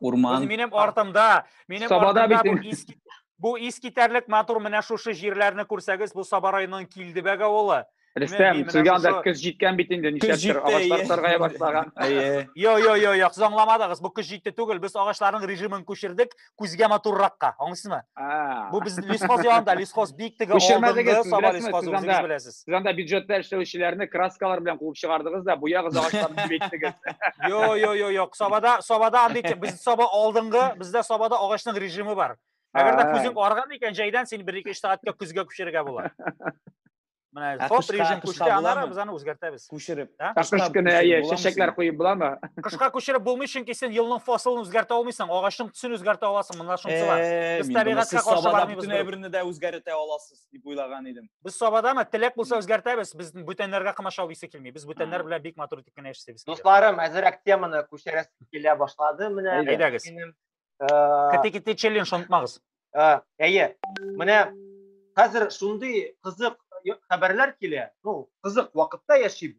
Урман. Минем артымда, минем Сабада артымда бу иск бу искитәрлек матур менә шушы җирләрне күрсәгез, бу Саба районының Килдебәг авылы. Рөстәм, сезгә анда көз җиткән бит инде, нишләптер агачлар саргая башлаган. Йо, йо, йо, йо, сез аңламадыгыз, бу көз җитте түгел, без агачларның режимын күчердек күзгә матурракка. Аңлыйсызмы? Бу без лесхоз янында, лесхоз бик теге алдынгы саба лесхозы, үзегез беләсез. Сез анда бюджетта эшләүчеләрне краскалар белән куып чыгардыгыз да, буягыз агачларын дип әйттегез. Йо, йо, йо, юк. Сабада, сабада андый без саба алдынгы, бездә сабада агачның режимы бар. Әгәр дә күзең арган икән, җәйдән син 1-2 сәгатькә көзгә күчерергә була. Менә ә топ режим күчте, аннары без аны үзгәртәбез. Күчереп. Кыш көне әйе, чәчәкләр куеп буламы? Кышка күчереп булмый, чөнки син елның фасылын үзгәртә алмыйсың, агачның төсен үзгәртә аласың, монда шунысы бар. Без табигатькә каршы бармыйбыз. Бөтен әйберне дә үзгәртә аласыз. дип уйлаган идем. Без Сабадамы? Теләк булса үзгәртәбез. Без бүтәннәргә комачау исе килми. Без бүтәннәр белән бик матур итеп кенә яшисебез. Дусларым, әзерәк теманы күчәрәс килә башлады. Менә әйдәгез. Кете-кете челлендж онытмагыз. Әйе. Менә хәзер шундый кызык хәбәрләр килә. Ну, кызык вакытта яшибез.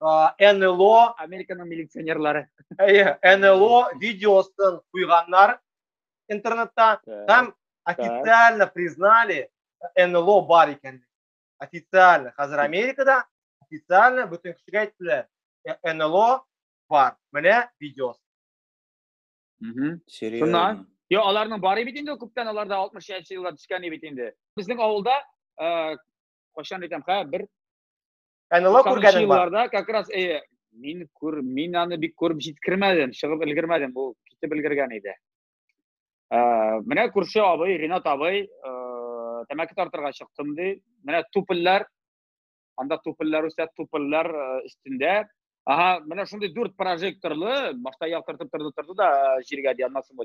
Э, НЛО Американың милиционерлары. Әйе, НЛО видеосын куйганнар интернетта һәм официально признали э, НЛО бар икәнлеген. Официально хәзер Америкада официально бөтен кешегә әйттеләр. Э, НЛО бар. Менә видеос. Мм, серьезно. Шуннан Йо, аларның бары бит инде күптән аларда 60 еллар төшкән бит инде. Безнең авылда кайчан әйтәм, хә, бер НЛО күргәнең бар. Елларда как раз э, мин күр, мин аны бик күреп җиткермәдем, чыгып өлгермәдем, бу китеп өлгергән иде. Э, менә күрше абый, Ринат абый, э, тәмәке тартырга чыктым ди. Менә тупыллар, анда тупыллар үсә, тупыллар э, өстендә. Ага, менә шундый дүрт прожекторлы, башта яктыртып торды, торды да җиргә ди, аннан соң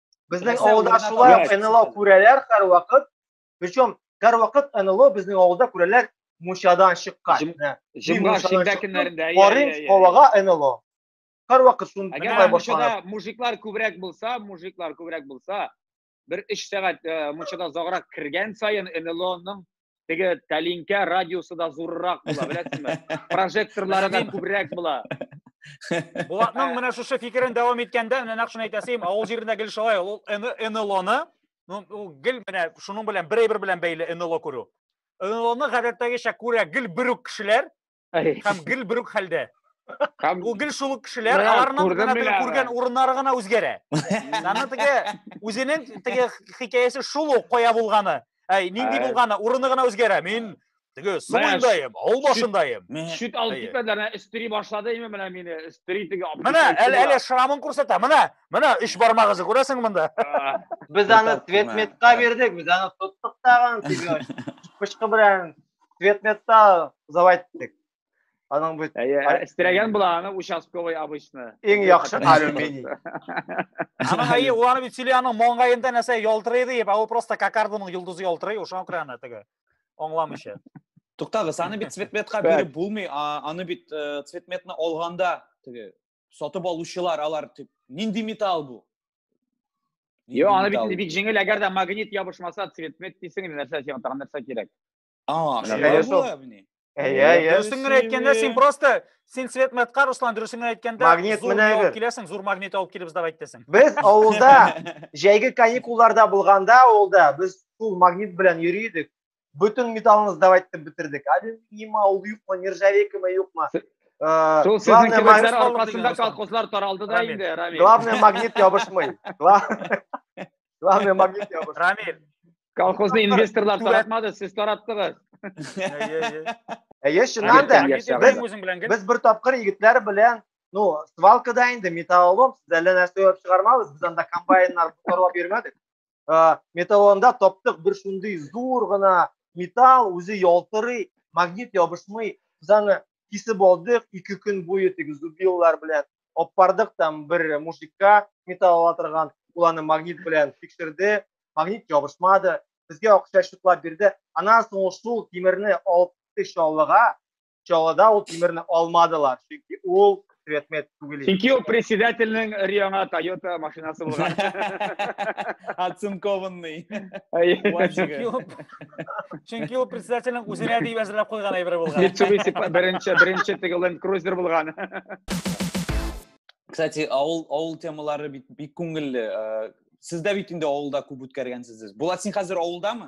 Безнең Теләсә авылда урында шулай табылып ук НЛО чыксын. күрәләр һәрвакыт. Причем һәрвакыт НЛО безнең авылда күрәләр мунчадан чыккан. Җым- Менә, мин Җомга мунчадан шимбә чыктым, көннәрендә. әйе, Карыйм әйе, әйе. һавага НЛО. Һәрвакыт шуны Әгәр тыңлай башланып. мунчада мужиклар күбрәк булса, мужиклар күбрәк булса, бер 3 сәгать э, мунчада озаграк кергән саен НЛОның теге тәлинкә радиусы да зуррак була, беләсезме? Прожекторлары да күбрәк була. Булатның менә шушы фикерен дәвам иткәндә, менә нәкъ шуны әйтәсем, авыл җирендә гел шулай, ул НЛОны, ну, ул гел менә шуның белән бер әйбер белән бәйле НЛО күрү. НЛОны гадәттәгечә күрә гел бер үк кешеләр, һәм гел бер үк хәлдә. Һәм ул гел шул ук кешеләр, аларның гына теге күргән урыннары гына үзгәрә. Аны теге үзенең теге хикәясе шул ук кая булганы, әй, нинди булганы, урыны гына үзгәрә. Мин теге суындайым, авыл башындайым. Шүт алып китмәделәр, өстери башлады име менә мине, өстери теге. Менә, әле әле шрамын күрсәтә. Менә, менә өч бармагызы күрәсең монда. Без аны Светметка бирдек, без аны тоттык тагын теге. Пычкы белән предметта узып әйттек. Аның бит Истерәгән була аны участковый обычно. Иң яхшы алюминий. Аның әйе, ул аны бит сөйли, аның моңгаенда нәрсә ялтырый дип, ә ул просто кокардының йолдызы ялтырый, ошан күрә аны теге. Аңламыйча. Туктагыз, аны бит цветметка биреп булмый, аны бит цветметны алганда теге сатып алучылар алар тип нинди металл бу Йо, аны бит бик җиңел, әгәр дә магнит ябышмаса, цветмет дисең, нәрсә сиңа тагын нәрсә кирәк? А, шулай була Әйе, әйе. Дөресен генә әйткәндә, син просто син цветметка, Руслан, дөресен генә әйткәндә, магнит менә алып киләсең, зур магнит алып килебез дип әйттесең. Без авылда җәйге каникулларда булганда авылда без шул магнит белән йөри идек. Бөтен металлны сдавать итеп бетердек. Алюминима, ул юкмы, нержавейкама юкмы. Э, Шул сезнең кебекләр аркасында колхозлар таралды да инде, Рамил. Главное, магнит ябышмый. Главное, магнит ябышмый. Рамил. Колхозны инвесторлар таратмады, сез тараттыгыз. Әйе, чыннан да, без бер тапкыр егетләр белән ну свалкада инде металлолом сез әллә нәрсә уйлап чыгармабыз без анда комбайннар корып йөрмәдек ә, металлында таптык бер шундый зур гына металл үзе ялтырый магнит ябышмый без аны кисеп алдык ике көн буе теге зубилар белән апардык там бер мужикка металл ала торган ул аны магнит белән тикшерде магнит ябышмады безгә акча чыклап бирде аннан соң ул шул тимерне алып чаллыга чалада ул тимерне алмадылар, чөнки ул предмет түгел. Чөнки ул председательнең Риона Toyota машинасы булган. Оцинкованный. Чөнки ул председательнең үзенә дип әзерләп куйган әйбер булган. Mitsubishi беренче беренче теге Land Cruiser булган. Кстати, авыл авыл темалары бик күңелле. Э, Сез дә бит инде авылда күп үткәргәнсез. Булат, син хәзер авылдамы?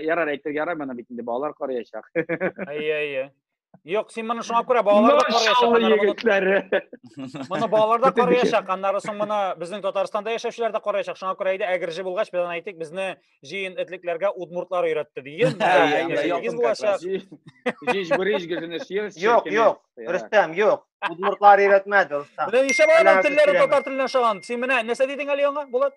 Ярар әйтергә ярамый, аны бит инде балалар карыячак. Әйе, әйе. Юк, син моны шуңа күрә балалар да карыячак. Моны балалар да карыячак, аннары соң моны безнең Татарстанда яшәүчеләр дә карыячак. Шуңа күрә әйдә әгерҗе булгач, без аны әйтик, безне җыен этлекләргә удмуртлар өйрәтте диген. Ягыз булачак. Җиж бүриш гезене сир. Юк, юк. Рөстәм, юк. Удмуртлар өйрәтмәде, Рөстәм. Менә нишләп алар телләре татар теленә ошаган? Син менә нәрсә дидең әле яңа, Булат?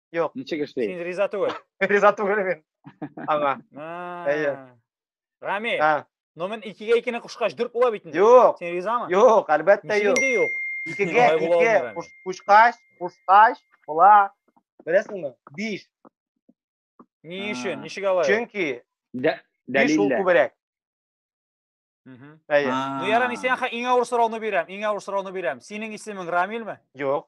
Юк. Ничек эшли? Син риза түгел. Риза түгел мин. Аңа. Әйе. Рами. Но мен икегә икене кушкач дүрт була бит инде. Юк. Син ризамы? Юк, әлбәттә юк. Ничек юк? Икегә ике кушкач, кушкач була. Беләсеңме? Биш. Ни өчен? Ничек алай? Чөнки дәлилләр. Шул күбрәк. Әйе. Ну ярам, сиңа иң авыр сорауны бирәм, иң авыр сорауны бирәм. Синең исемең Рамилме? Юк.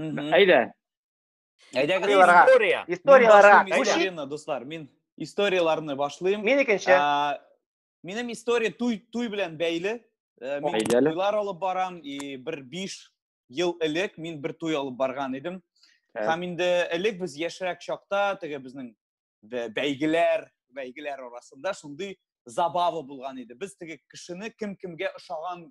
Әйдә. Әйдә гыйларга. История. Историяләргә. Историяне дуслар, мин историяләрне башлыйм. Мин икенче. Минем история туй туй белән бәйле. Э, мин туйлар алып барам и бер 5 ел элек мин бер туй алып барган идем. Һәм инде элек без яшьрәк чакта теге безнең бәйгеләр, бәйгеләр арасында шундый забава булган иде. Без теге кешене кем кемгә ошаган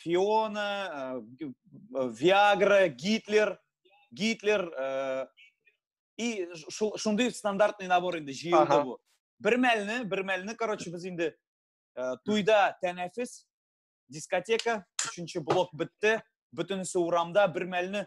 Фиона, э, э, Виагра, Гитлер, Гитлер э, и шундый стандартный набор инде җыелды бу. Бер мәлне, бер мәлне, короче, без инде туйда тәнәфес, дискотека, өченче блок бетте, бөтенесе урамда, бер мәлне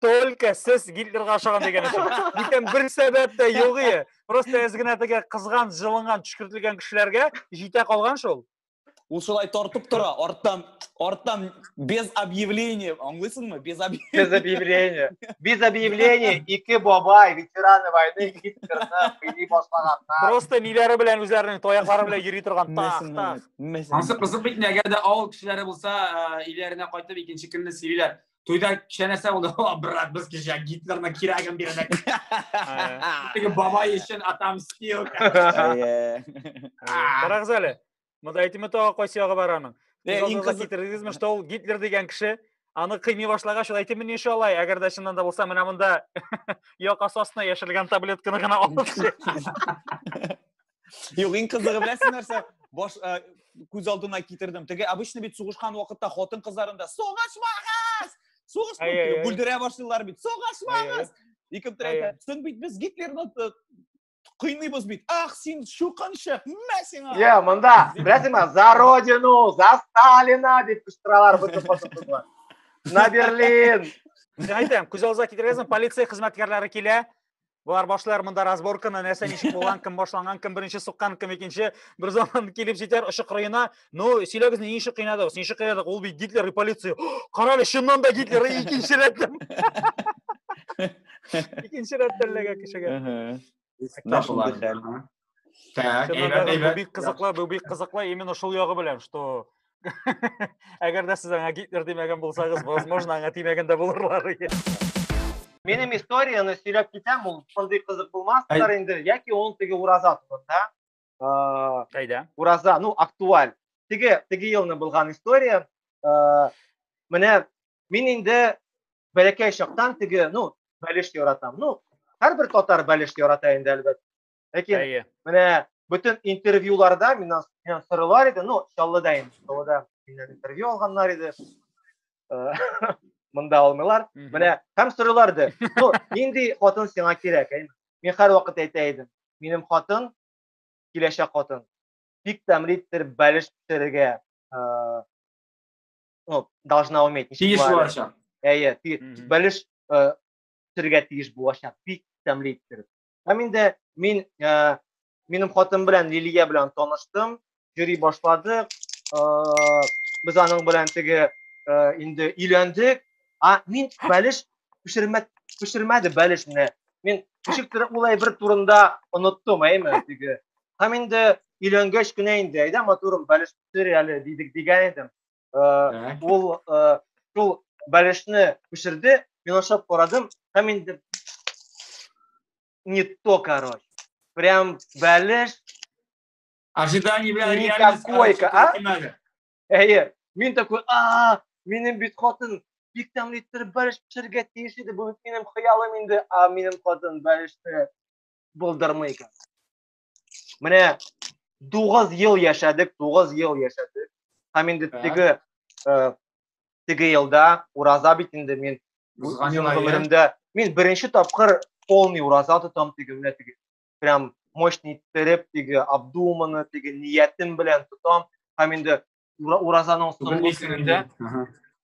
только сез гитлерга ашаған дигән өчен бүтән бер сәбәп тә юк ие просто әз генә теге кызган җылынган төшкертелгән кешеләргә җитә калган шул ул шулай тартып тора арттан арттан без объявления аңлыйсыңмы без без объявления без объявления ике бабай ветераны войны гитлерны уйный башлаганнар просто миләре белән үзләренең таяклары белән йөри торган тах тах анысы кызык бит инде әгәр дә авыл кешеләре булса э, өйләренә кайтып икенче көнне сөйлиләр тойда кеше нәрсә булды о брат без кеше гитлерның кирәген бирдек теге бабай өчен отомстил карагыз әле монда әйтеме тагы кайсы ягы бар аның китердегезме что ул гитлер дигән кеше аны кыймый башлагач ул әйтеме нише алай әгәр дә чыннан да булса менә монда якасы астына яшерелгән таблетканы гына алып Юк, иң кызыгы беләсең нәрсә? Баш э, күз алдына китердем. Теге обычно бит сугышкан вакытта хатын кызларында сугышмагыз! Сугыш бүлдерә башлыйлар бит. Сугышмагыз! Ике төрәйтә. Соң бит без Гитлерны э, кыйныйбыз бит. Ах, син шукынчык, мә сиңа. Йә, монда, беләсеңме, за родину, за Сталина дип кычкыралар бөтен хатын-кызлар. На Берлин. Әйтәм, күз алдына китергәнсең, полиция хезмәткәрләре килә. Болар башлар монда разборканы, нәрсә ничек булган, кем башланган, кем беренче суккан, кем икенче. Бер заман килеп җитәр очы кырыена. Ну, сөйләгез, ни ничек кыйнадыгыз? Ничек кыйнадык? Ул бит Гитлер и полиция. Карале, чыннан да Гитлер икенче рәттән. Икенче рәттән ләгә кешегә. Спектакль. Так, әйбәт, әйбәт. Бик кызыклы, бу бик кызыклы именно шул ягы белән, что әгәр дә сез аңа Гитлер димәгән булсагыз, возможно, аңа тимәгән дә булырлар. Минем историяны сөйләп китәм, ул шундый кызык булмастыр инде, яки ул теге ураза турында. Кайда? Ураза, ну, актуаль. Теге, теге елны булган история. Менә мин инде бәләкәй чактан теге, ну, бәлеш яратам. Ну, һәрбер татар бәлеш ярата инде, әлбәттә. Ләкин Әйе. менә бөтен интервьюларда миннән миннән сорыйлар иде, ну, Чаллыда инде, Чаллыда миннән интервью алганнар иде. Э, Монда алмыйлар. Менә һәм сорыйлар иде. Ну, нинди хатын сиңа кирәк? Әй, Мин һәр вакыт әйтә идем. Минем хатын киләчәк хатын. Бик тәмле итер бәлеш пешерергә. э, Ну, должна уметь. ничек Тиеш була әле? булачак. Әйе, ти- Мгм. бәлеш э, пешерергә тиеш булачак. Бик тәмле иттереп. Һәм инде мин ә, минем хатын белән Лилия белән таныштым, йөри башладык. Ә, без аның белән теге ә, инде өйләндек. А мин бәлеш пешермә пешермәде бәлеш менә. Мин ничектер улай бер турында оныттым, әйме, теге. Һәм инде өйләнгәч кенә инде, әйдә матурым, бәлеш пешер әле дидек дигән идем. Э, ул э, шул бәлешне күчерде, мин ашап карадым, һәм инде не то, короче. Прям бәлеш Ожидание белән реальность. Койка, а? Әйе. Мин такой, а, минем бит хатын бик тәмле иттереп бәлеш пешерергә тиеш иде. Бу бит минем хыялым инде, а минем хатын бәлешне булдырмый икән. менә тугыз ел яшәдек тугыз ел яшәдек һәм инде теге э, теге елда ураза бит инде мин гомеремдә мин беренче тапкыр полный ураза тотам теге менә теге прям мощный иттереп теге обдуманно теге ниятем белән тотам һәм инде уразаның соңгы көнендә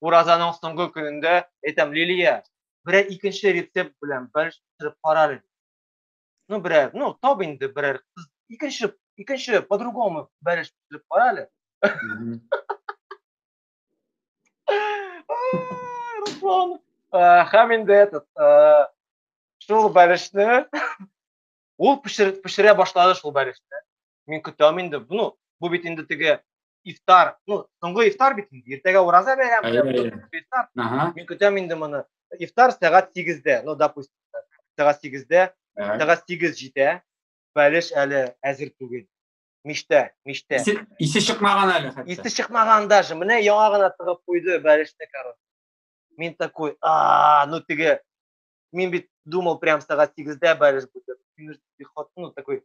уразаның соңгы көнендә әйтәм лилия берәр икенче рецепт белән бер пешереп кара әле ну берәр ну тап инде берәр кыз икенче икенче по другому бәрәш төшереп кара әле руслан һәм инде этот шул бәрәшне ул пешерә башлады шул бәрәшне Мин көтәм инде. Ну, бу бит инде теге ифтар, ну, соңгы ифтар бит инде. Иртәгә ураза бәйрәме, соңгы ифтар. Мин көтәм инде моны. Ифтар сәгать 8-дә, ну, допустим, сәгать 8-дә, сәгать 8 җитә. Бәлеш әле әзер түгел. Миштә, миштә. Исе, исе чыкмаган әле хәтта. Исе чыкмаган даже. Менә яңа гына тыгып куйды бәлешне, короче. Мин такой, а, ну теге, мин бит думал прям сәгать 8-дә бәлеш будет. Мин хатыны такой,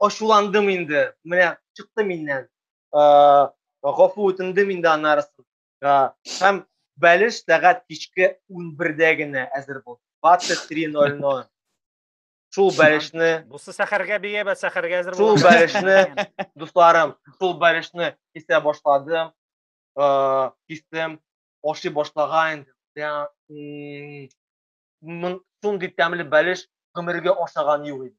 ачуландым инде, менә чыкты миннән. Э, гафу үтендем инде анарысын. Э, һәм бәлеш сәгать кичке 11-дә генә әзер булды. 23.00. Шул бәлешне Бусы сәхәргә бия бә сәхәргә әзер Шул бәлешне, дусларым, шул бәлешне кисә башладым. Э, кистем, ашый башлаган инде. Шундый тәмле бәлеш гомергә ашаган юк иде.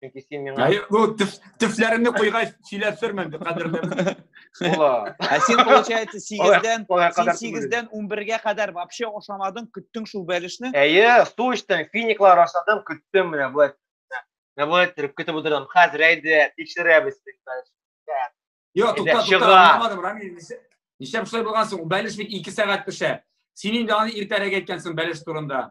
Чөнки син миңа Әй, бу төф- төфләремне куйгач сөйләп сөрмәм бит кадерлем. була. Ә син, получается, сигездән, Алай син кадәр түгел. сигездән унбергә кадәр вообще ашамадың, көттең шул бәлешне. Әйе, су эчтем, финиклар ашадым, көттем менә болай. Менә болай торып көтеп утырдым. Хәзер әйдә, тикшерәбез. Йо, Әйдә, тукта, чыга. тукта, аңламадым, Рамил. нишлә- Нишләп шулай булган соң? Бәлеш бит ике сәгать пешә. Син инде аны иртәрәк әйткәнсең бәлеш турында.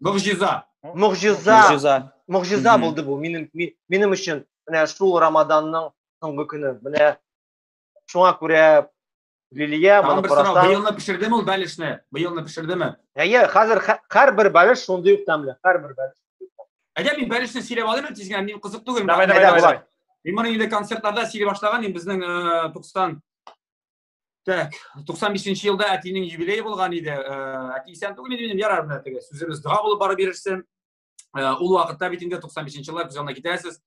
Могжиза. Могжиза. Могжиза. Могжиза булды бу минем минем өчен. Менә шул Рамаданның соңгы көне. Менә шуңа күрә Лилия, моны карасаң. Быелны пешердеме ул бәлешне? Быелны пешердеме? Әйе, хәзер һәрбер бәлеш шундый ук тәмле, һәрбер бәлеш. Әйдә мин бәлешне сөйләп алыйм тизгенә, мин кызык түгел. Давай, давай, давай. Мин моны инде концертларда сөйли башлаган, мин безнең 90 Так, 95 елда әтинең юбилее булган иде. Әти исән түгел иде минем, ярар менә теге сүзебез дога булып барып бирерсен. Ул вакытта бит инде 95 еллар күз алдына китерәсез.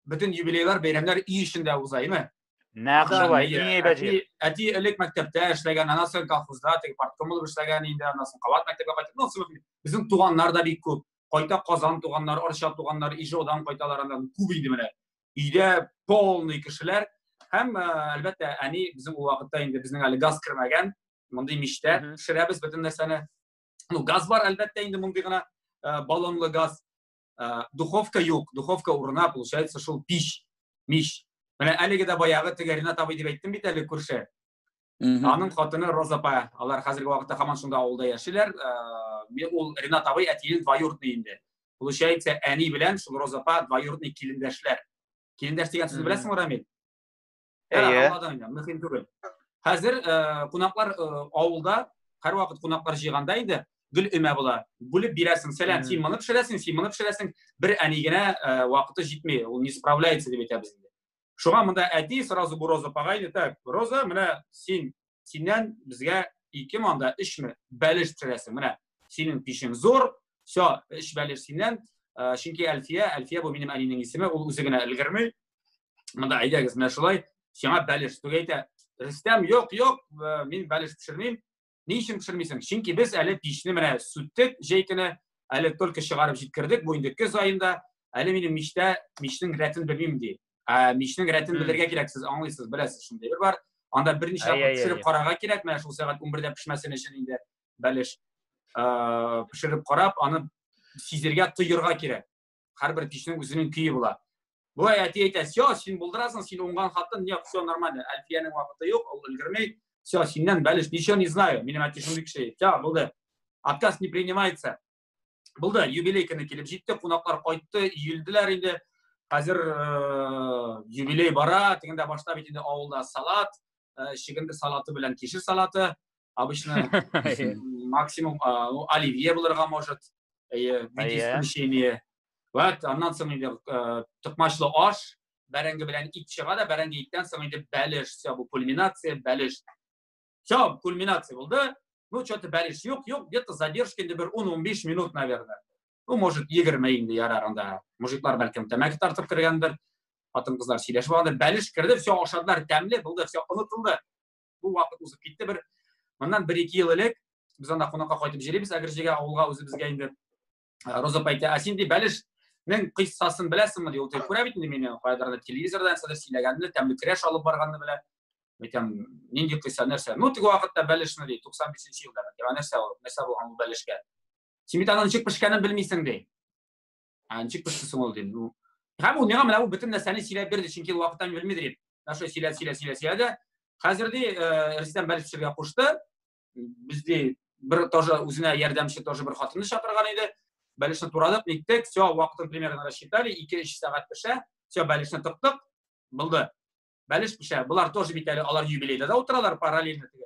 Бөтен юбилейлар, бәйрәмнәр өй эчендә уза, име? Нәкъ шулай, иң әйбәте. Әти элек мәктәптә эшләгән, аннан соң колхозда теге партком булып эшләгән инде, аннан соң кабат мәктәпкә кайтып, ну, сымык. Безнең туганнар да бик күп. Кайта Казан туганнар, Арча туганнар, Ижаудан кайталар, аннан күп иде менә. өйдә полный кешеләр һәм әлбәттә әни безнең ул вакытта инде безнең әле газ кермәгән мондый мичтә пешерәбез бөтен нәрсәне ну газ бар әлбәттә инде мондый гына баллонлы газ духовка юк духовка урына получается шул пич мич менә әлеге дә баягы теге ринат абый дип әйттем бит әле күрше Аның хатыны Роза апа, алар хәзерге вакытта һаман шунда авылда яшиләр. Мен ул Ринат абый әтиен двоюродный инде. Получается, әни белән шул Роза апа двоюродный килендәшләр. Килендәш дигән сүзне беләсеңме, Рамил? Әйе. Мөһим түгел. Хәзер кунаклар авылда һәрвакыт кунаклар җыйганда инде гөл өмә була. Бүлеп бирәсең, сәлам, син моны пешерәсең, син моны пешерәсең. Бер әни генә вакыты җитми, ул не справляется дип әйтәбез инде. Шуңа монда әти сразу бу Роза апага әйтә, так, Роза, менә син синнән безгә ике манда эшме бәлеш төшерәсең. Менә синең пишең зур, все, эш бәлеш синнән. Э, чөнки Әлфия, Әлфия бу минем әнинең исеме, ул үзе генә өлгерми. Монда әйдәгез, менә шулай, сиңа бәлеш түгәйтә. Рөстәм, юк, юк, э, мин бәлеш пешермим. Ни өчен пешермисең? Чөнки без әле пичне менә сүттек, җәй көне әле только чыгарып җиткердек, бу инде көз аенда, әле минем мичтә мичнең рәтен белмим ди. Ә мичнең рәтен белергә кирәк, сез аңлыйсыз, беләсез, шундый бер бар. Анда берничә тапкыр пешереп карарга кирәк, менә шул сәгать 11-дә пешмәсен өчен инде бәлеш пешереп карап, аны сизергә, тоерга кирәк. һәрбер кешенең үзенең көе була былай әти әйтә все син булдырасың син уңган хатын нет все нормально әлфиянең вакыты юк ул өлгермей все синнән бәлеш ничего не знаю минем әти шундый кеше все булды отказ не принимается булды юбилей көне килеп җитте кунаклар кайтты иелделәр инде хәзер э, юбилей бара тегендә башта бит инде авылда салат э, чегенде салаты белән кишер салаты Обычно максимум, а, ну, оливье булырга может, э, в виде исключения. Вот, аннан соң инде э, токмачлы аш, бәрәңге белән ит чыга да, бәрәңге иттән соң инде бәлеш, все, бу кульминация, бәлеш. Все, кульминация булды. Ну, что-то бәлеш юк, юк, где-то задержка инде бер 10-15 минут, наверное. Ну, может, 20 инде ярар анда. Мужиклар бәлкем тәмәке тартып кергәндер. Хатын-кызлар сөйләшеп алды. Бәлеш керде, все, ашадылар, тәмле булды, все, онытылды. бу вакыт узып китте бер моннан бер ике ел элек без анда кунакка кайтып җөрибез әгерҗегә авылга үзебезгә инде ә, роза әйтә ә син ди бәлеш Мен кыйссасын беләсеңме ди ул тел күрә бит инде мине кайдыр телевизордан нәрсәдә сөйләгәнне тәмле крәш алып барганны белә әйтәм нинди кыйсса нәрсә ну теге вакытта бәлешне ди туксан бишенче елда нәрсә ул нәрсә булган ул бәлешкә син бит аның ничек пешкәнен белмисең ди ә ничек пешерсең ул дим ну һәм ул миңа менә бу бөтен нәрсәне сөйләп бирде чөнки ул вакытта мин белмидер идем наша сөйләп сөйләп сөйләп сөйләде хәзер ди э, рөстәм бәлеш пешерергә кушты безде бер тоже үзенә ярдәмче тоже бер хатынны чакырган иде бәлешне турадык ниттек все вакытын примерно рассчитали ике өч сәгать пешә все бәлешне тыктык булды бәлеш пешә болар тоже бит әле алар юбилейда да утыралар параллельно теге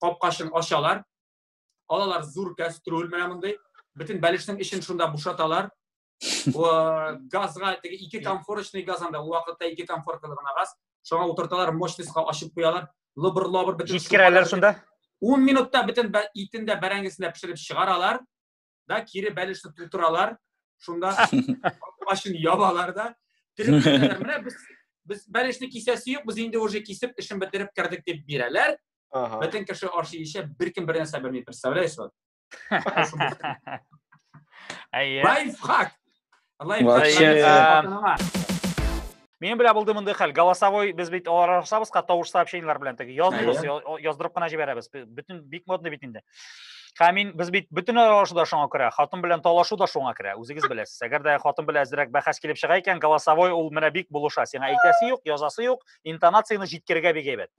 капкачын ачалар алалар зур кәстрүл менә мондый бөтен бәлешнең эчен шунда бушаталар газга теге ике комфорочный газ анда ул вакытта ике комфоркалы гына газ шуңа утырталар мощностька ачып куялар лыбыр лабыр бөтен җиткерәләр шунда ун минутта бөтен итен дә бәрәңгесен дә пешереп чыгаралар да кире бәлешне тутыралар шунда башын ябалар да менә без без бәлешне кисәсе юк без инде уже кисеп эшен бетереп кердек дип бирәләр бөтен кеше ашый эчә беркем бер нәрсә белми представляешь вот лайфхак Алай Вообще, Мин белә булды мондый хәл. Голосовой без бит алар арасабызга тавыш сообщениеләр белән теге яздыгыз, яздырып кына җибәрәбез. Бөтен бик модный бит инде. Һәм мин без бит бөтен аралашу да шуңа керә, хатын белән талашу да шуңа керә. Үзегез беләсез. Әгәр дә хатын белән әзрәк бәхәс килеп чыга икән, голосовой ул менә бик булыша. Сиңа әйтәсе юк, язасы юк, интонацияне җиткерергә бик әйбәт.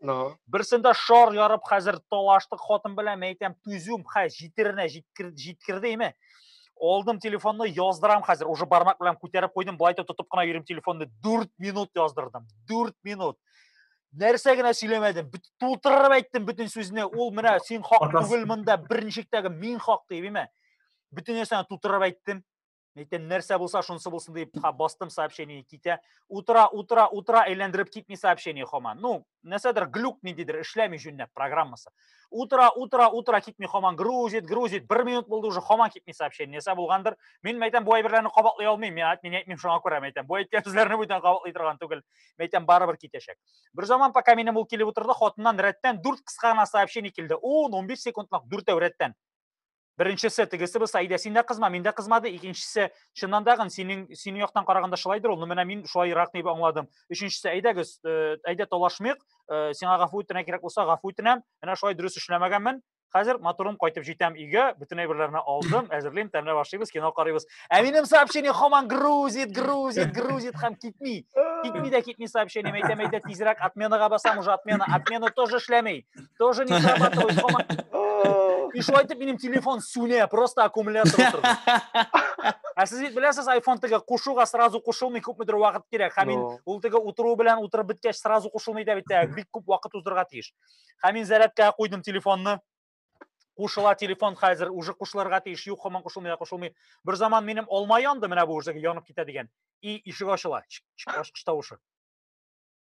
Берсендә шар ярып хәзер талаштык хатын белән, мәйтәм, түзүм, хә, җитеренә җиткердеме? алдым телефонны яздырам хәзер уже бармак белән күтәреп куйдым былай тотып кына йөрим телефонны дүрт минут яздырдым дүрт минут нәрсә генә сөйләмәдем тутырып әйттем бөтен сүзне ул менә син хак түгел монда беренчектәге мин хак дип имә бөтен нәрсәне тутырып әйттем әйтәм нәрсә булса шунысы булсын дип бастым сообщение китә утыра утыра утыра әйләндереп китми сообщение хаман ну нәрсәдер глюк ниндидер эшләми җүннәп программасы утыра утыра утыра китми хаман грузит грузит бер минут булды уже хаман китми сообщение нәрсә булгандыр мин әйтәм бу әйберләрне кабатлый алмыйм мин әйтмим әйтмим шуңа күрә әйтәм бу әйткән сүзләрне бүтән кабатлый торган түгел мин әйтәм барыбер китәчәк бер заман пока минем ул килеп утырды хатыннан рәттән дүрт кыска гына сообщение килде он он биш секундлык дүртәү рәттән Беренчесе тегесе булса, әйдә син дә кызма, мин дә кызмады. Икенчесе, чыннан да гын синең синең яктан караганда шулайдыр ул. Ну менә мин шулайрак дип аңладым. Өченчесе, әйдәгез, э, әйдә талашмыйк. Э, сиңа гафу үтенә кирәк булса, гафу үтенәм. Менә шулай дөрес эшләмәгәнмен. Хәзер матурым кайтып җитәм өйгә, бөтен әйберләрне алдым, әзерлим, тәмләп ашыйбыз, кино карыйбыз. Ә минем сообщение хаман грузит, грузит, грузит һәм китми. Китми дә китми сообщение, әйтәм, әйдә тизрәк отменага басам, уже отмена, отмена тоже эшләми. тоже не срабатывает дома. И шулай итеп минем телефон сүнә, просто аккумулятор утырды. Ә сез бит беләсез, iPhone тиге кушуга сразу кушылмый, күпмедер вакыт кирәк. Һәм мин ул тиге утыру белән утырып беткәч сразу кушылмый да бит, бик күп вакыт уздырырга тиеш. Һәм мин зарядкага куйдым телефонны. Кушыла телефон хәзер, уже кушылырга тиеш, юк, һаман кушылмый, кушылмый. Бер заман минем алма янды, менә бу уже янып китә дигән. И ишек ачыла, ачкыч тавышы.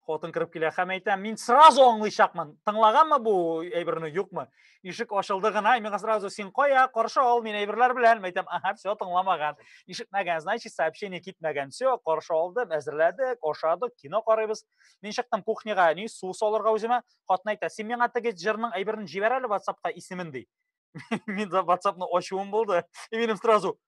Хатын кырып килә һәм әйтә, мин сразу аңлыйчакмын. Тыңлаганмы бу әйберне, юкмы? Ишек ачылды гына, миңа сразу син кая, каршы ал, мин әйберләр белән. Мәйтәм, ага, все, тыңламаган. Ишетмәгән, значит, сообщение китмәгән. Все, каршы алды, әзерләдек, ашадык, кино карыйбыз. Мин чыктым кухняга, ни су салырга үземә. Хатын әйтә, син миңа теге җырның әйберен җибәр әле WhatsAppка исемен ди. Мин WhatsAppны ачуым булды. И минем сразу,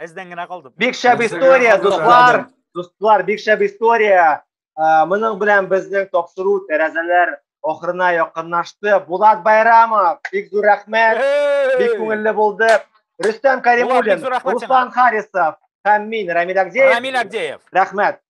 Әздән генә калдым. Бик шәп история, дуслар. Дуслар, бик шәп история. Ә, Моның белән безнең тапшыру тәрәзәләр ахырына якынлашты. Булат Байрамов, бик зур рәхмәт. Бик күңелле булды. Рөстәм Булат, бик Кәримуллин, зур рәхмәт сиңа. Руслан Харисов һәм мин Рамил Агдеев. Рамил Агдеев. Рәхмәт.